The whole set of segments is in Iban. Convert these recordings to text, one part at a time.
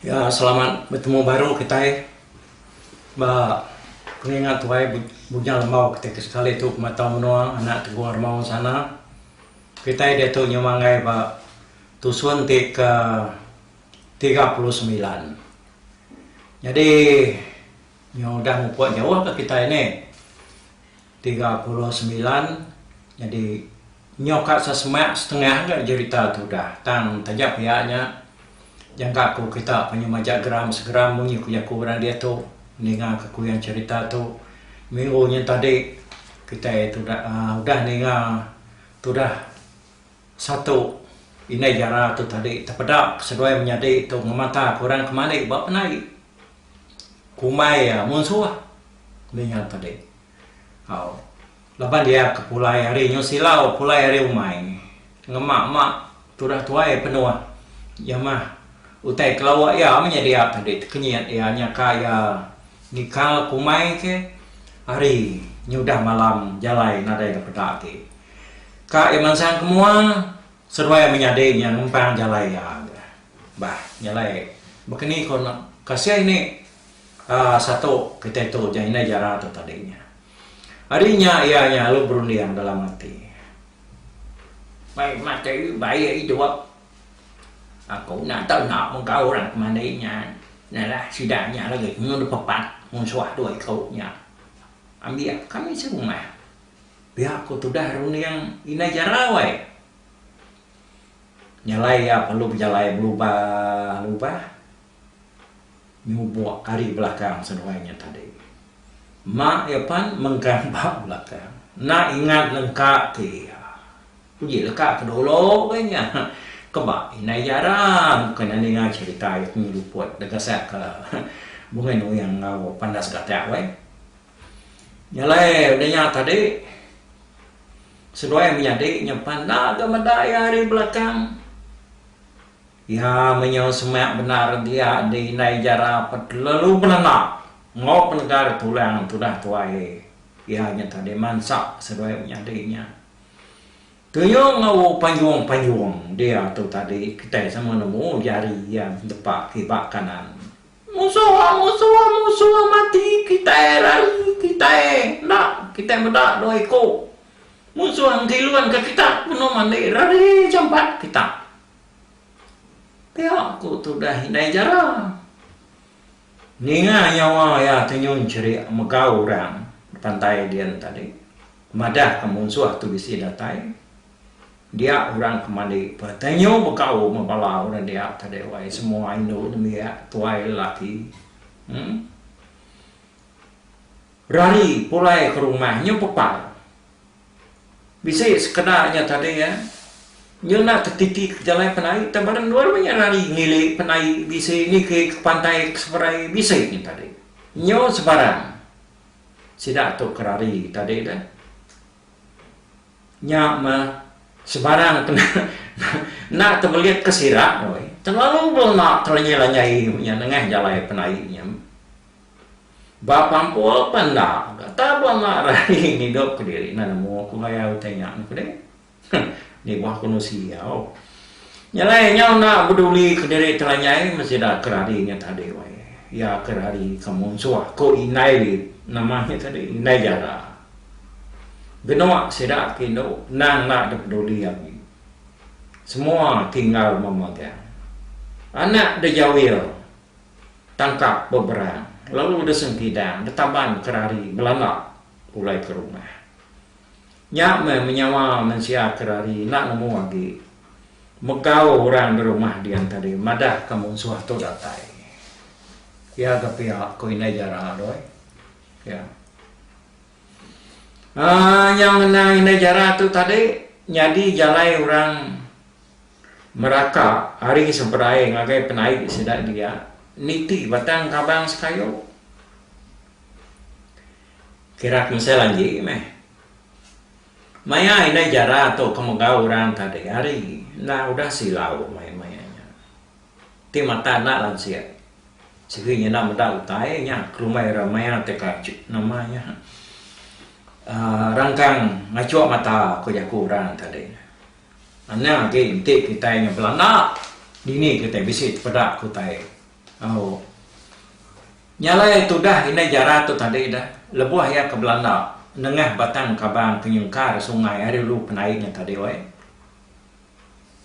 Ya selamat betemu baru kitai ba pengingat tuai Bujang Lembau kitai ke sekali tu pemata menua anak Tegong Armau ensana. Kitai diatu nyema enggai ba tusun ti ke tiga puluh semilan. Nyadi nyau udah mupuk jauh ka kitai nih. Tiga puluh semilan nyadi Nyau ka sesemak setengah aja jerita tu dah tang taja pia nya jangka ku kita panjau majak geram segeram munyi ku jaku orang diatu ninga ke kuyan cerita tu minggu nya tadi kitai tudah uhh udah ninga tudah satu indai jara tu tadi tepeda seduai menyadi tu ngemata ku orang kemali ba penai kumbai iya munsuh ninga tadi au. Laban dia ke pulai ari nyu silau pulai ari umai ngema ma tudah tuai penuh iya mah utai kelawa iya meh nyadi ap tadi tekenyit iya nyaka iya nikal ke umai ke ari nyudah malam jalai nadai ga peda agi ka iya mansang ke mua seduai menyadi nya ngempang jalai iya ga bah jalai bekeni ko kasih ni um satu kitai tu indai jara tu tadi nya. Ari nya iya nyalu berunding dalam ati, Mai matai baie idup. Aku enda tau enda mega orang ke mandi nya. Nalah sida nya lagi nyun dipepat munsuh dua iku nya. Ambik ka mih serumah. Pia ku tudah runding Indai Jarau ai. Nyalai iya perlu bejalai belubah lubah. Nyubok ari belakang seduai nya tadi. Mak iya pan mengkang ba belakang. Enda ingat lengka ke iya. Uji leka ke dulu be nya. Keba indai jara bukai enda ninga cherita iya penyu luput da gasak ke Bungai Nuyang enggau Pandas Gatak weh. Nya alai udah nya tadi seduai menyadi nya pan enda ga meda iya ari belakang. Iya menyau semak bendar dia di indai jara betelalu belena enggau penegar tulang tudah tuai iya nya tadi mansa seduai menyadi nya. Tuyung enggau panjung-panjung dia tu tadi kitai sama nemu jari iya betepa kiba kanan. Musuh, musuh, musuh mati kitai rari kitai enda kitai meda dua iku musuh ngkilun ka kita penuh mandi rari jampat kita. Pia ku tudah indai Jara. Ninga nyawa iya tenyun cherik mega orang pantai din tadi madah ke munsuh tu bisi datai. Dia orang ke mandi peh tenyu begau me bala orang dia tadi wai semua indu nembiak tuai lelaki uhh rari pulai ke rumah nyu pepal. Bisi sekeda nya tadi iya nyuna ke titi ke jalai penai tang badan dua meh iya rari ngili penai bisi niki ke pantai ke seberai bisi nya tadi nyu sebarang sida tu ke rari tadi dah nya meh sebarang ke enda tebelit ke sida weh terlalu belema telanjai-lanjai nya nengah jalai penai nya. Ba pampul pan enda ga taba enda rahi ngidup ke diri enda nemu ku maya utai nya ku deh ni buah ku nusi au nyelai nyau enda beduli ke diri telanyai mesti da ke rari nya tadi wai iya ke rari ke munsuh ku indai lit nama nya tadi indai jara genuk sida ke indu endang enda da peduli agi semua tinggal memagang anak dejawil tangkap beberang lalu de sengkidang detaban ke rari belanda pulai ke rumah. Nya meh menyawa mensia ke rari enda nemu agi megau orang de rumah dian tadi madah ke munsuh tu datai. Pia ke pia ku indai jara doi. Pia. Aaa nyau ngena indai jara tu tadi nyadi jalai orang Meraka ari seberai ngagai penaik sida dia niti batang kabang sekayu. Kira kemesai lanji meh. Maya indai jara tu ke mega orang tadi hari enda udah silau mai maya nya. Ti mata enda lansik sigi nyenda meda utai nya kelumai ira maya teka nama nya uhh rangkang ngachuk mata ku jaku orang tadi. Nya agi enti kitai nya belanda, dini kitai bisi tepeda ke utai au. Nya alai tudah indai jara tu tadi dah, lebuh iya ke belanda nengah batang kabang ke nyengkar sungai ari ulu pendai nya tadi wai.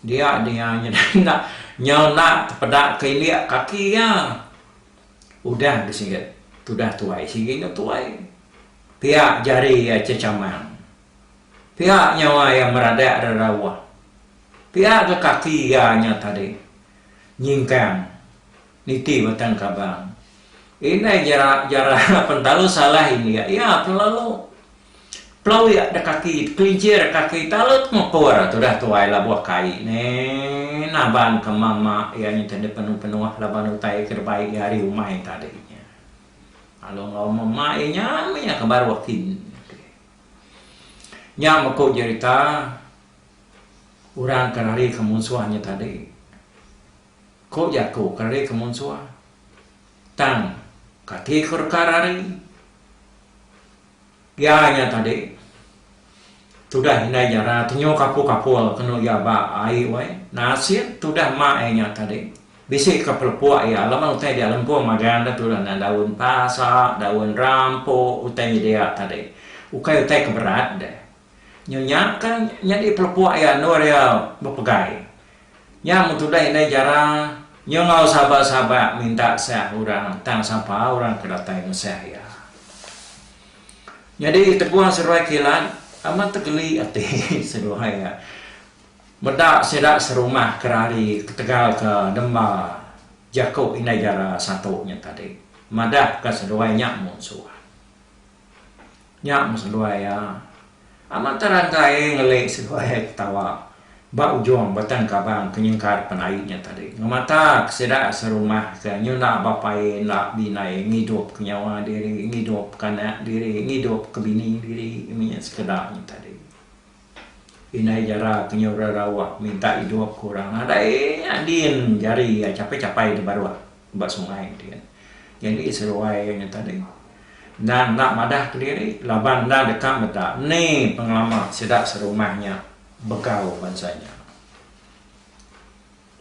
Dia dia nya dah enda nya enda tepeda ke indik kaki iya. Udah bisi tudah tuai sigi nya tuai. Pia jari iya chechamang. Pia nyawa iya meradak rerawa. Pia ga kaki iya nya tadi nyingkang niti batang kabang. Indai jara jara pentalu salah india iya kelalu pelawik da kaki kelinchir kaki talut mepur tudah tuai labuh kai ne naban ke mama iya nya tadi penuh penuh laban utai ke dibai iya ari umai tadi nya. Lalu enggau mema iya nya mih iya ke baruh kin. Nya meko jerita orang ke rari ke munsuh nya tadi. Ko jaku ke rari ke munsuh tang kati ko deka rari iya nya tadi tudah indai jara tenyo kapul-kapul kenu iya ba ai wai nasib tudah mak iya nya tadi. Bisi ka pelepuk iya laban utai dia lempung magang da tudah endang daun pasa, daun rampu, utai nyedia tadi. Ukai utai ke berat deh. Nyu nya ka nyadi pelepuk iya endur iya bepegai. Nya mun tudah indai jara nyu enggau sabak-sabak minta sah orang tang sapa orang ke datai nusah iya. Nyadi teguh seruai kilat amat tegeli ati seruai iya. Meda sida serumah ke rari ketegal ke nemba jaku indai jara satu nya tadi madah ke seduai nya munsuh. Nya meh seduai iya. Amat terang ke ai ngeli seduai ai ketawa ba ujung batang kabang ke nyengkar penai nya tadi ngemata ke sida serumah ke nyunda bapa iya enda bindai ngidup ke nyawa diri, ngidup ke anak diri, ngidup ke bini diri meh nya sekeda nya tadi. Indai jara penyura Rawak minta idup ke orang nadai nya din jari iya chapai-chapai di baruh ba sungai din. Nyadi seruai iya nya tadi enda enda madah kediri laban enda deka meda ni pengelama sida serumah nya begau bansa nya.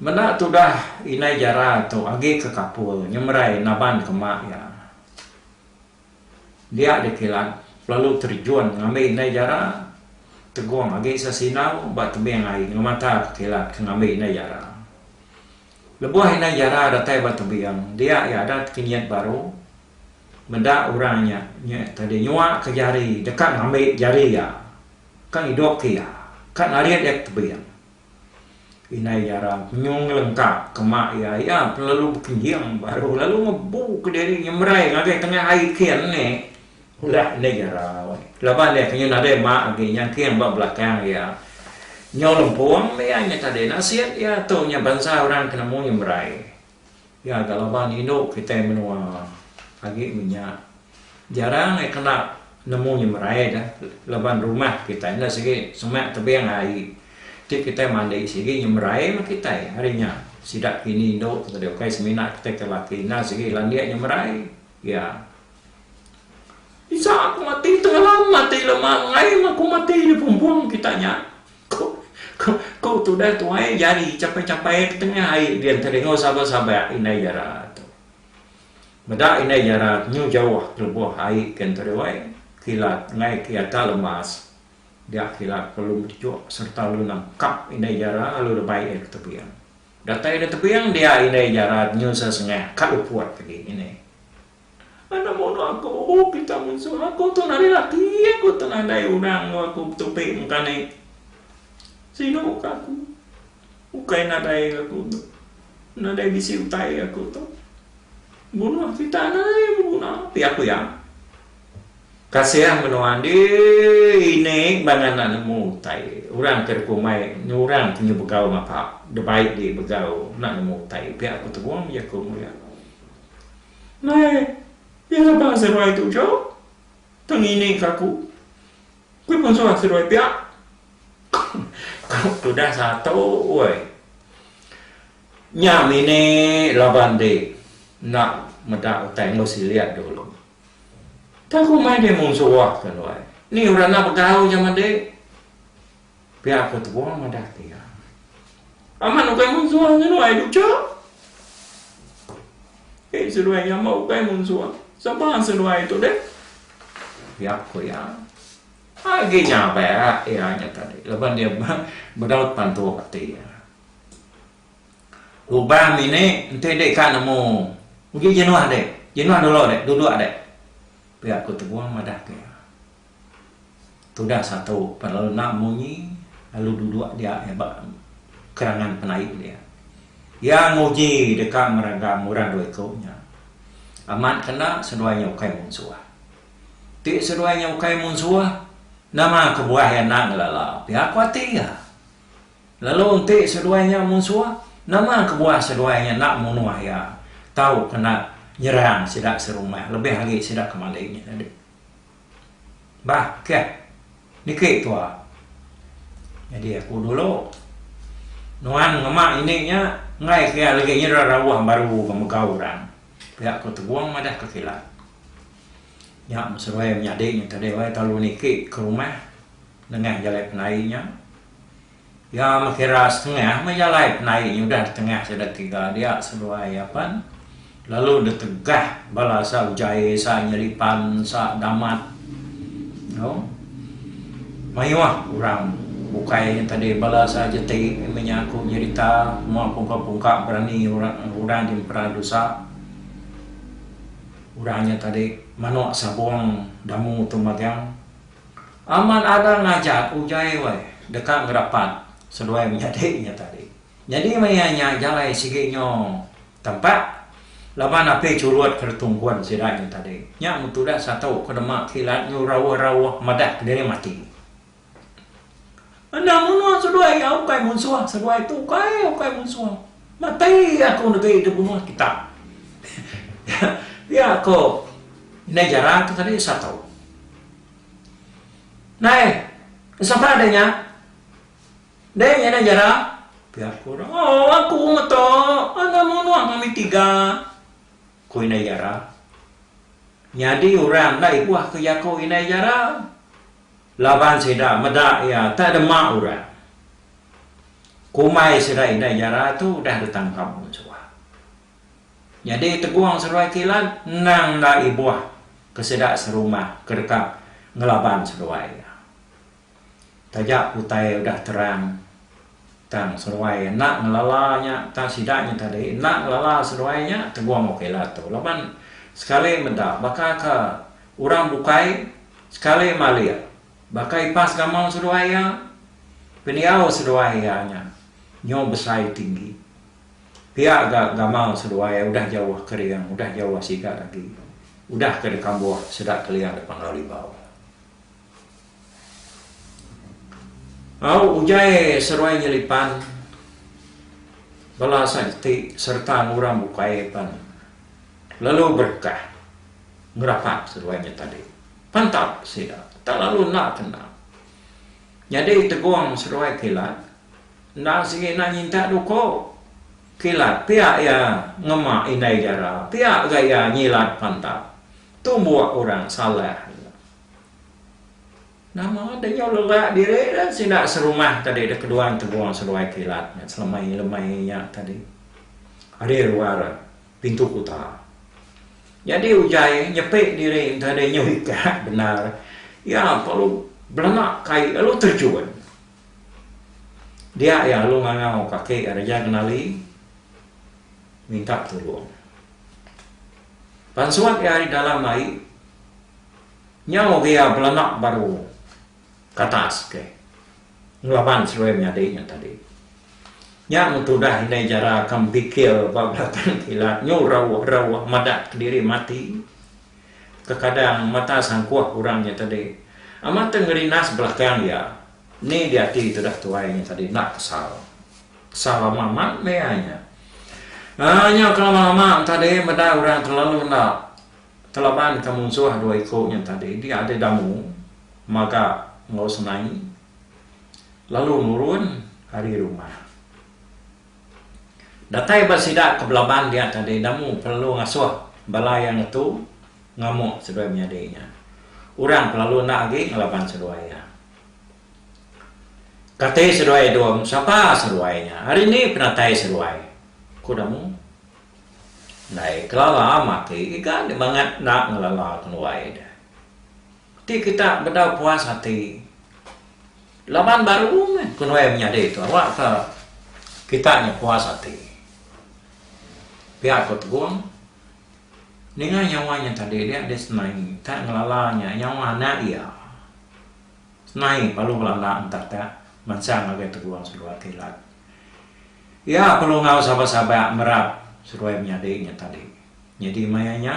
Meda tudah indai jara tu agi ke kapul nyemerai naban kema iya. Dia dikilat lalu terjun ngambi indai jara tegung agi sesinau ba tebing ai ngemata ke kilat ke ngambi indai jara. Lebuh indai jara datai ba tebing dia iya adat ke nyet baru meda orang nya nya tadi nyua ke jari deka ngambi jari iya ka ngidup ke iya ka narit iya ke tebing. Indai Jara penyu ngelengka kema iya. Iya pun lalu bekenjing baru lalu ngebu ke diri nyemerai ngagai tengah ai king ne ulah Indai Jara. Laban iya penyu nadai ma agi nyang king ba belakang iya. Nyau lempung meh iya nyau tadi nasib iya tu nyau bansa orang ke nemu nyemerai. Iya ga laban indu kitai menua agi menya jarang ai kena nemu nya merai da laban rumah kitai enda sigi semak tebing ai ti kitai mandi sigi nya merai meh kitai ari nya sida kini indu ti tadi ukai semina kitai ke laki enda sigi landik nya merai iya Isa ku mati tengela mati lema ngai meh ku mati di pumpung kita nya. Ku tudah tuai jari champai-champai ke tengah ai dia enti dengau sabak-sabak indai jara tu. Meda indai jara tu nyu jauh lebuh ai ke enti dewai kilat ngai ke atas lemas dia kilat perlu mejok sereta lu nangkap indai jara lu rebai ia ke tebing. Datai ia ke tebing dia indai jara tu nyu sesengah ka luput agi ngini. Anak mono aku, oh pita munsuh aku tu nadai laki aku tu nadai orang enggau aku betupi meka ni. Sinu muka aku. Ukai nadai aku tu. Nadai bisi utai aku tu. Bunuh kitai nadai beguna pia aku iya. Kasian menua andi ini bang anak nemu utai. Orang ke dikumbai enggau orang ke begau ngapa. Dibai di begau enda nemu utai pia aku tegum jaku mu iya. Nai, iya nebang seruai tu jauh tang ngining ka aku. Kui pun suah seruai pia. Ku tudah satu woi. Nya mini laban di enda meda utai enggau silik dulu. Tang ku mai deh mung suah ka nuan. Ni orang enda begau jaman di. Pia ke tua madah ke iya. Amat ukai munsuh nya nuai ducha. Ei seduai nya amat ukai munsuh. Sapa seduai tu deh? Pia ku iya. Agi nya ba iya nya tadi laban iya bedaut pantu ati iya. Lubang ini enti deka nemu uji jenuh deh. Jenuh dulu deh duduk deh. Pia ku tua madah ke iya. Tudah satu pa lalu enda munyi lalu duduk dia iya ba kerangan penaip dia. Iya nguji deka meraga murang dua iku nya. Amat ke enda seduai nya ukai munsuh. Ti seduai nya ukai munsuh nama kebuah iya enda ngelala pia ku ati iya. Lalu enti seduai nya munsuh nama kebuah seduai nya enda munuh iya tauka enda nyerang sida serumah lebih agi sida ke mali nya tadi. Bah, keh. Niki tua. Nyadi aku dulu. Nuan ngema ini nya enggai pia legi nyera rauh baru ke megau orang. Pia aku tegong madah ke kilat. Nya meseroi menyadi nya tadi wai telalu niki ke rumah nengah jalai penai nya. Iya mekira setengah meh jalai penai nyudah ditengah sida tiga dia seduai apan lalu ditegah bala asa ujai asa nyelipan asa damat eno mayuh orang bukai nya tadi bala asa jeti meh nya aku nyerita mua pungka pungka berani orang ti mepera dosa orang nya tadi manuk sabong damu tu magang. Amat arang ngajat ujai weh deka ngerapat seduai menyadi nya tadi. Nyadi maya nya jalai sigi nyo tempat laban api churut ke retungkun sida nya tadi. Nya meh tudah satu ke dema kilat nyu rauh-rauh madah kediri mati. Enda munuh seduai iya ukai munsuh seduai tu ukai ukai munsuh. Matai aku negeri deh munuh kita. Iya ko indai jara tu tadi satu. Nai sapa deh nya deh nya indai jara pia ko dah oh aku meto enda munuh ngambi tiga ko indai jara. Nyadi orang enda ibuh ke jaku indai jara. Laban sida meda iya tak dema orang. Kumbai sida indai jara tu udah ditangkap mun suah. Nyadi Tegong seduai kilat endang enda ibuh ke sida serumah ke deka ngelaban seduai iya. Taja utai udah terang. Tang seruai enda ngelala nya tang sida nya tadi enda ngelala seruai nya tegong ok lah tu laban sekali meda baka ke orang bukai sekali malik baka ipas gamal seduai iya pendiau seduai iya nya nyau besai tinggi pia ga gamal seduai udah jauh kering udah jauh sigat agi udah ke dikambuh sida keling da Pangrau Libau. Au ugai seruai nyelipan bala sageti sereta ngurang bukai pan lalu berkah ngerapak seruai nya tadi pan tau sida tak lalu enda kena nyadi tegong seruai kilat enda sigi enda nyintak duko kilat pia iya ngema indai jara pia ga iya nyilat pan tau tumbuk orang salah. Nama deh nyau lelak diri deh sida serumah tadi deh kedua entegung seduai kilat nya selemai lemai nya tadi ari luar pintu kuta nyadi ugai nyepi diri enta deh nyau ikat bendar iya perlu belena kai lalu terjun dia iya lalu ngangau ka aki iya Raja Kenali minta tulung pan suat iya ari dalam ai. Nyau ria belanak baru katas ke ngelaban selui menyadi nya tadi. Nya mun tudah indai jara ka bikil ba belatan kilat nyu rauh rauh madah kediri mati kekadang mata sangkuh orang nya tadi amat teh ngerinas belakang iya ni diati tudah tuai nya tadi enda kesal. Kesal lama amat meh iya nya. Aaa nyau ke lama lama tadi meda orang telalu enda Kelaban ka munsuh dua iku nya tadi diadi Damu maga enggau Senai lalu nurun ari rumah. Datai ba sida ke belaban dia tadi Damu pelalu ngasuh bala iya ngetu ngamuk seduai menyadi nya. Orang pelalu enda agi ngelaban seduai iya. Kati seduai Dum, sapa seduai nya, ari ni penatai seduai? ku Damu. Ndai kelala mati giga nya bangat enda ngelala kenuai deh. Ti kita bedau puas ati laban baru meh kenuai menyadi tu awakka kita nya puas ati. Pia ko Tegong, ninga nyawa nya tadi dia deh senai ka ngelala nya nyawa anak iya. Senai lalu belanda entek ka mansang ngagai Tegong seduai kilat. Iya perlu enggau sabak-sabak merap seduai menyadi nya tadi. Nyadi maya nya,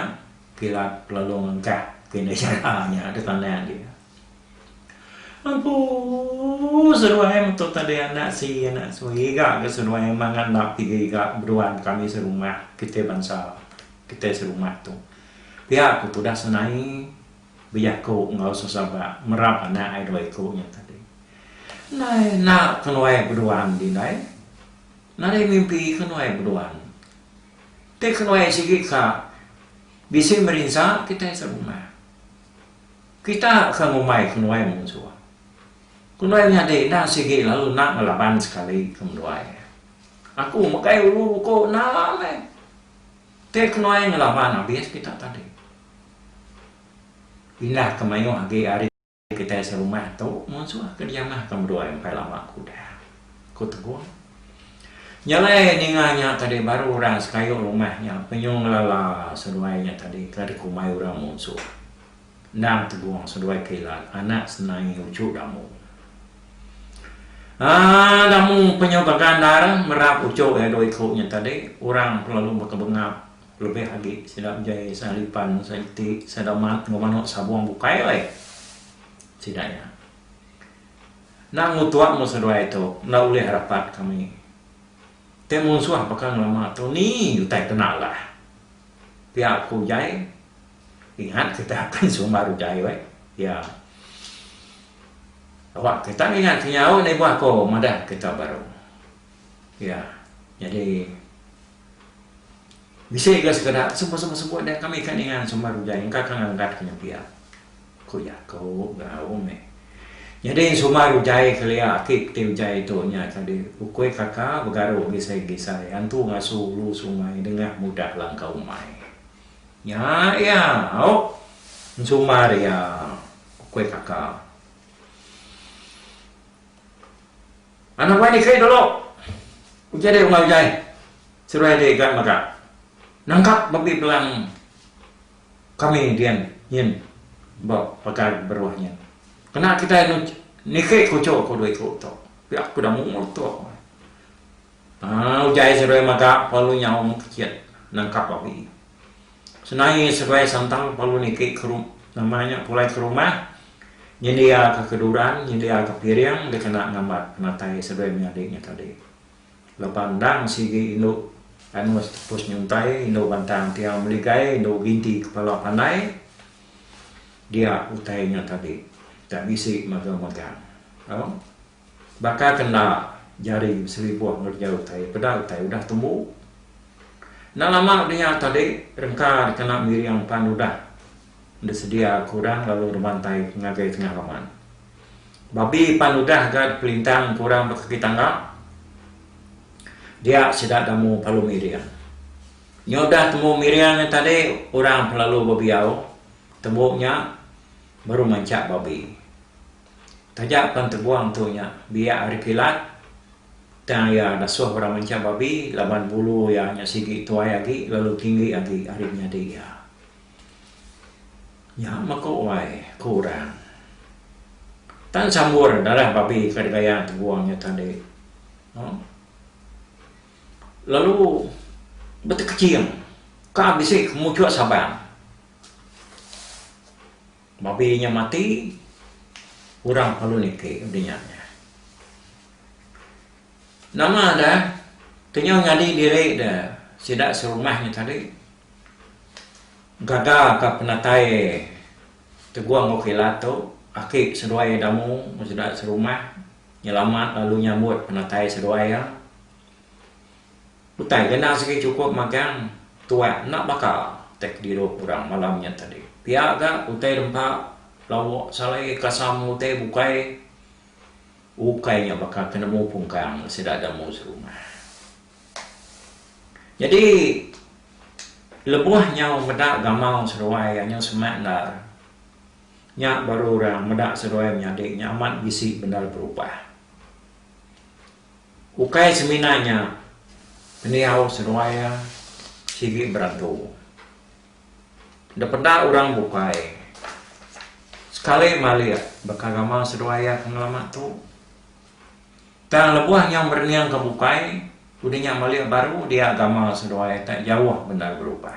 kilat lalu ngengkah ke indai chara nya di tanah dia. Empu seduai metu tadi anak si anak su iga ke seduai mangan lap tiga iga beduan kami serumah kitai bansa kitai serumah tu. Pia ku tudah senai. bejaku enggau sesabak merap anak ai dua iku nya tadi. Ndai enda ke nuai beduan ti ndai. Nadai mimpi ke nuai beduan. Ti ke nuai sigi ka bisi merinsa kitai serumah. Kita ke ngumbai ke nuai munsuh. Ke nuai nyadi enda sigi lalu enda ngelaban sekali ke menduai. Aku megai ulu buku enda meh. Ti ke nuai ngelaban abis kita tadi. Indah ke mayuh agi ari kitai serumah tu munsuh ke diamah ke meduai empai lama ke udah, ku Teguh. Nya alai ninga nya tadi baru orang sekayu rumah nya penyu ngelala seduai nya tadi ke dikumbai orang munsuh. Endang Teguh seduai ke ila anak senai uchu Damu. Aaa Damu penyu gaga endar merap uchu iya dua iku nya tadi orang lalu baka bengap Lebih agi sida enjai sahalipan, saiti, sadamat enggau manuk sabung bukai alai sida nya. Enda ngutuk mu seduai tu enda ulih rapat kami. Ti munsuh baka ngelama tu ni utai kena alah. Pia ku Jai. Ingat kitai akan sumbar utai weh. Iya. Awak kitai ngingat kenyau ni buah ko madah kitai baru. Iya. Nyadi. Bisi ga sekeda semua-semua-semua dah kami ka ninga sumbar ujan engka ka ngelengkat ke nya pia, ku iya ke beraum meh. Nyadi sumbar ujan kelia ati peti ujan tu nya ka di ukui kaka begaru gisai-gisai antu ngasu ulu sungai nengah mudah langkau umai. Nya iya au sumbar iya, ku kaka. Anak wai ni keri dulu. Uja deh umai ujai. Seruai deh ga mega. Nangkap babi belang kami dian nyin ba pagar beruh nyin. Kena kitai niki kucho ku dua iku tu. Pia ku damu tu. Haa ujai seruai mega pelu nyau mekecit nangkap babi. Senai seduai santang perlu niki ke nama nya pulai ke rumah nyendiaka ke duran nyendiaka piring dikena ngambat penatai seduai menyadi nya tadi lepa endang sigi indu anus tepus nyuntai indu bantang tiang meligai indu ginti kepala pandai dia utai nya tadi tak bisi mega mega. Baka ke enda jari beselibuh ngereja utai, peda utai udah tembu. Enda lama deh nya tadi, rengka dikena miring pan udah disedia kurang lalu ngerebantai ke ngagai tengah laman. Babi pan udah ga dipelintang kurang ba kaki tangga, dia sida damu palu miring. Nya udah tembu miring nya tadi, orang pelalu bebiau tembu nya baru mancak babi. Taja pan tebuang tu nya biak ari kilat tang iya dasuh orang mancha babi laban bulu iya nya sigi tuai agi lalu tinggi agi ari penyadi iya. Nya meku wai ku orang. Tan sambur darah babi ke digaya tebuang nya tadi. Uhh. Lalu betekeching ka bisi kemuchuk Sabang. Babi nya mati, orang palu niki dinya nya. Nama da kenyau nyadi diri da sida serumah nya tadi gaga ka penatai tegung enggau kilat tu, aki seduai damu enggau sida serumah nyelamat lalu nyambut penatai seduai iya. Utai ke endang sigi chukup magang tuak enda baka utai ke diru orang malam nya tadi. Pia ga utai rempa lawok salai kasam utai bukai ukai nya baka ke nemu pungkang sida da mu serumah. Nyadi lebuh nyau meda gamau seruai nya nyau semak endar nya baru orang meda seruai menyadi nya amat bisi bendar berubah. Ukai semina nya, pendiau seduai iya sigi berantu. Enda peda orang bukai sekali malik baka gamal seduai iya ke ngelama tu. Tang lebuh nyau ngereningka bukai, udah nya malik baru dia gamal seduai iya tak jauh bendar berubah.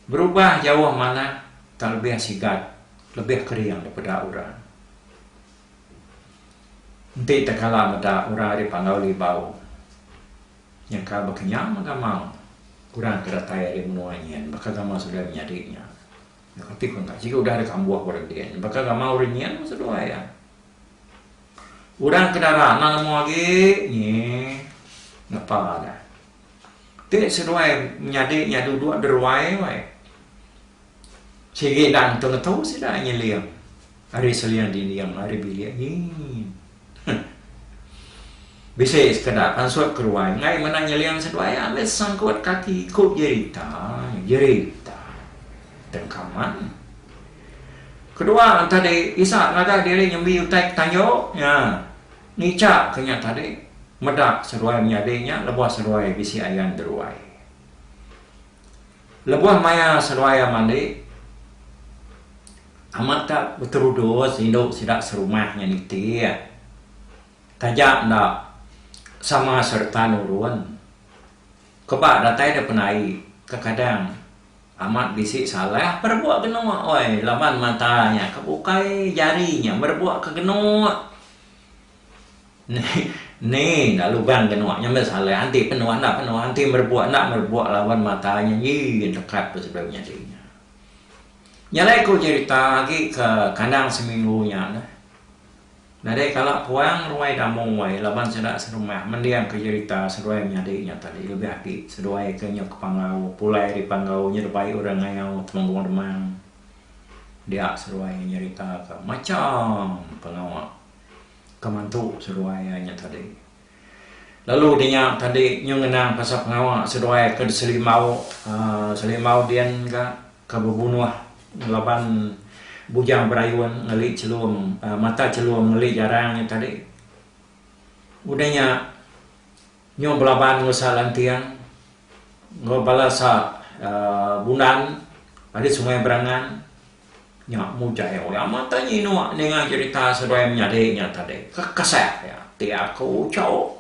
Berubah jauh manah tak lebih sigat, lebih kering daripada orang. Enti tekala meda orang ari Panggau Libau nyengkal bekenyau mega mau orang ke datai ari menua nyin baka gamal seduai menyadi nya. Nya kati ku enda sigi udah deh kambuh orang din baka gamal orang nyin meh seduai iya. Orang ke dara enda nemu agi nyi ngepa deh. Ti seduai menyadi iya duduk deruai wai. Sigi nang tengetu sida nyeling ari seling dinding ari bilik nyin. Huh. Bisi sekeda pansut keruai enggai meda nyeling seduai ambi sangkut kaki ku jerita, jerita tengkaman. Kedua tadi Isak ngaga diri nyembi utai ke tanjung. Nya. Ngica ke nya tadi, meda seruai menyadi nya lebuh seruai bisi ayan deruai. Lebuh maya seruai iya mandi, amat ka beterudus indu sida serumah nya nitih taja enda sama sereta nurun Kebak datai da penai kekadang amat bisi salah berebok genok oi laban mata nya ke bukai jari nya berebok ke genok ne enda lugang genok nya meh salah enti penoh enda penoh enti berebok enda berebok laban mata nya ii gin tekat peh sebedau nyadi nya. Nya alai ku cerita agi ke kandang seminggu nya neh. Nadai kala puang ruai damu wai laban sida serumah mendingka jerita seduai menyadi nya tadi lebih agi seduai ke nyau ke Panggau pulai ari Panggau nya dibai orang ngayau Temenggung Demang dia seduai nyeritaka macham pengawa ke mantu seduai iya nya tadi. Lalu di nya tadi nyu ngenang pasal pengawa seduai ke diselimau aaa selimau din ka ke bebunuh laban bujang berayun ngeli chelum aaa mata chelum ngeli jarang nya tadi. Udah nya nyu belaban enggau sa lanting enggau bala sa aaa bundan ari sungai berangan. Nya mujai oi amat tanya inua ninga cerita seduai menyadi nya tadi ke kasah iya ti aku chau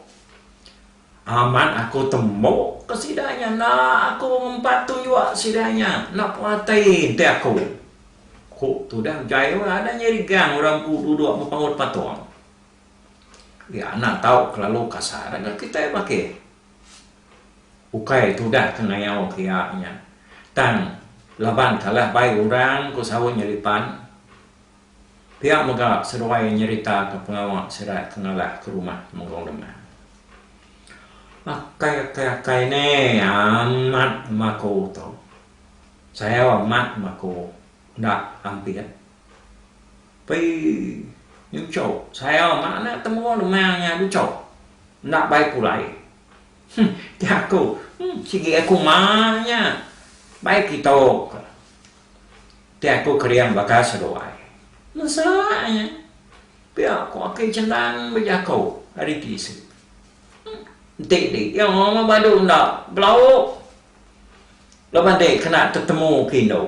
amat aku tembu ke sida nya enda aku ngempat tunjuk sida nya enda perati enti aku ku tudah mujai oi ada nyadi gang orang empu duduk bepaut patung iya enda tau kelalu kasar kitai bakih. Ukai tudah ke ngayau ke iya nya. Tang laban kalah bai orang ku saut Nyelipan. Pia mega seduai nyeritaka pengawa sida ke ngalah ke rumah Temenggung Demang. Akai akai akai ne amat bemaku tu. Sayau amat bemaku enda ampit. Pei nyuchau saya meh enda temu dema nya luchau. Enda bai pulai. Huh ti aku huh sigi aku mak nya bai kitok. Ti aku kering baka seduai. Mesa nya pia ku aki Chendan bejako ari tisi. Huh enti di iya meh badu enda belauk Laban deh kena tetemu ke indu,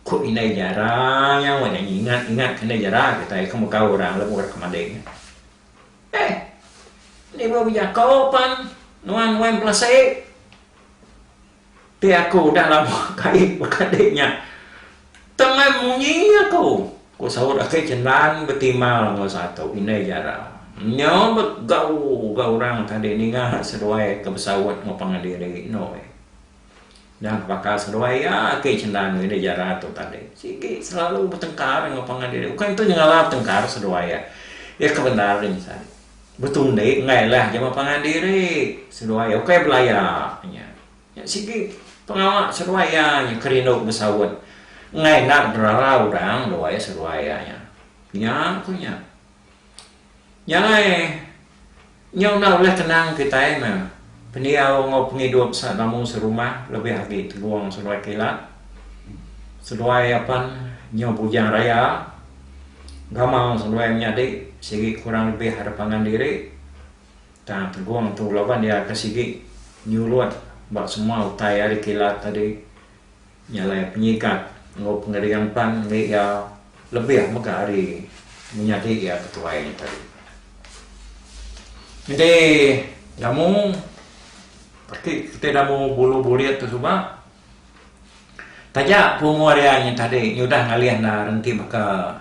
ku indai jara nya weh nyanyi ingat ingat ke indai jara kitai ke mega orang lebuh rak ke mading nya. Deh enti bala bejako pan nuan wan pelasik ti aku udah lama kai baka deh nya. Tang ai munyi iya tu, ku saut aki Chendan betimbal enggau satu indai jara. Nya begau ga orang tadi ninga seduai ke besaut enggau pangan diri enoi. Udah baka seduai iya aki Chendan enggau indai jara tu tadi sigi selalu betengkar enggau pangan diri. Ukai ento nyengala betengkar seduai iya. Iya ke bendar nya saja. Betundi enggai lah jama pangan diri seduai iya ukai belaya nya. Nya sigi pengawa seruai iya nya ke rindu besaut enggai enda gerara orang luai seruai iya nya. Nya ku nya. Nya alai nyau enda ulih tenang kitai meh pendiau enggau pengidup selamu serumah lebih agi tegong seruai kilat, seruai apan nyau bujang raya, gamau seruai menyadi sigi kurang lebih ada pangan diri. Tang Tegong tu laban iya ke sigi nyurut ba semua utai ari kilat tadi nyalai penyigat enggau pengering pan enggai iya lebih mega ari menyadi iya ketuai nya tadi. Enti Damu ati kitai Damu Bulu Burit tu suba taja ku umur iya nya tadi iya udah ngalih enda rengki baka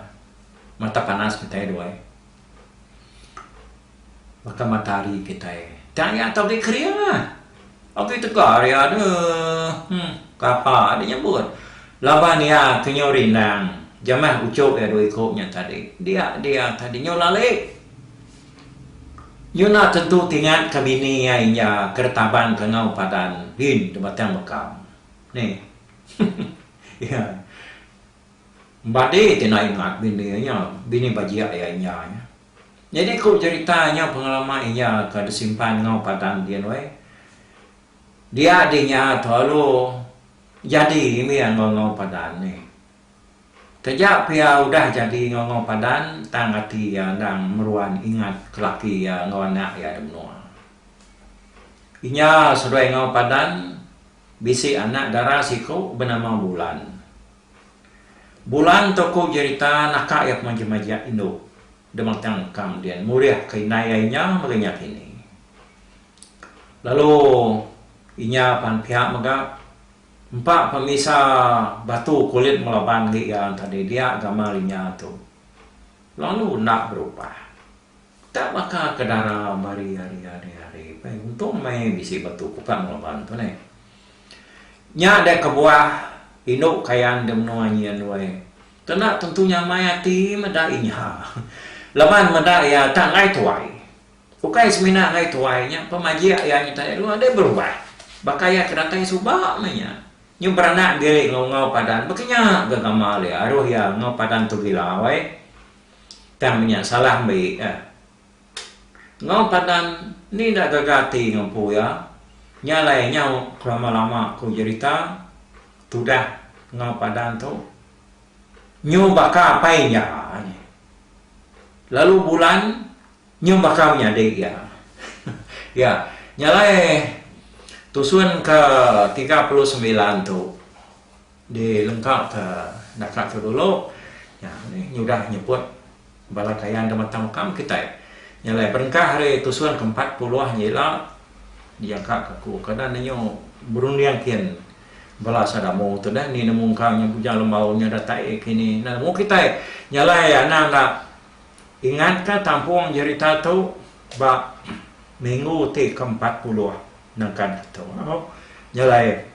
mata panas kitai duai. Baka matahari kitai. Tang iya tau agi kering ah. Agi tegar iya deh. Huh. Kapa deh nyebut. Laban iya ke nyau rindang. Jamah uchup iya dua iku nya tadi. Dia dia tadi nyau lalik. Nyu enda tentu tingat ka bini iya inja ke retaban ka ngau padan din di batang bekam. Nih. Iya. Badi ti enda ingat bini iya nya. Bini bajik iya inja nya. Nyadi ku jerita nya pengelama iya ka disimpan enggau padang din weh. Dia di nya tu alu jadi imi enggau enggau padan nih. Taja pia udah jadi enggau enggau padan tang ati iya endang meruan ingat ke laki iya enggau anak iya di menua. Inya seduai enggau padan bisi anak dara siku benama Bulan. Bulan tokoh jerita naka iya pemaja majak indu Dematang Kamdien murihka indai iya inya mega inya kini. Lalu inya pan piak mega empa pemisa batu kulit Melaban agi iya enta didiak gamal inya tu lalu enda berubah. Ka baka ke dara bari ari ari ari pai untung meh bisi batu kupak ngelaban tu neh. Nya deh kebuah indu kayan di menua nyin weh. Tu enda tentu nyamai ati meda inya. Laban meda iya tak enggai tuai. Ukai semina enggai tuai nya pemajik iya nyadi dulu deh berubah. Baka iya ke datai suba meh nya. Nyu beranak diri enggau enggau padan baka nya ga gamal iya aruh iya enggau padan tu gila weh. Tang nya salah mbe eh. Enggau padan ni enda gaga ati enggau empu iya. Nya alai nyau kelama-lama ku jerita tudah enggau padan tu nyu baka apai iya nya. Lalu bulan nyu baka menyadi iya. Iya. Nya alai tusun ke tiga puluh sembilan tu. Dilengkapka naka ke dulu nya nih nyudah nyebut bala kayan da mata mukam kitai nya alai berengkah ari tusun ke empat puluh nya ila diangka ka aku ke enda ninyu berunding kin bala sada amu tu deh ni nemu engka nya bujang lembau nya da tai kini enda nemu kitai nya alai anang da ingat ka tampung jerita tu ba minggu ti ke empat puluh nengkan ke tu nya alai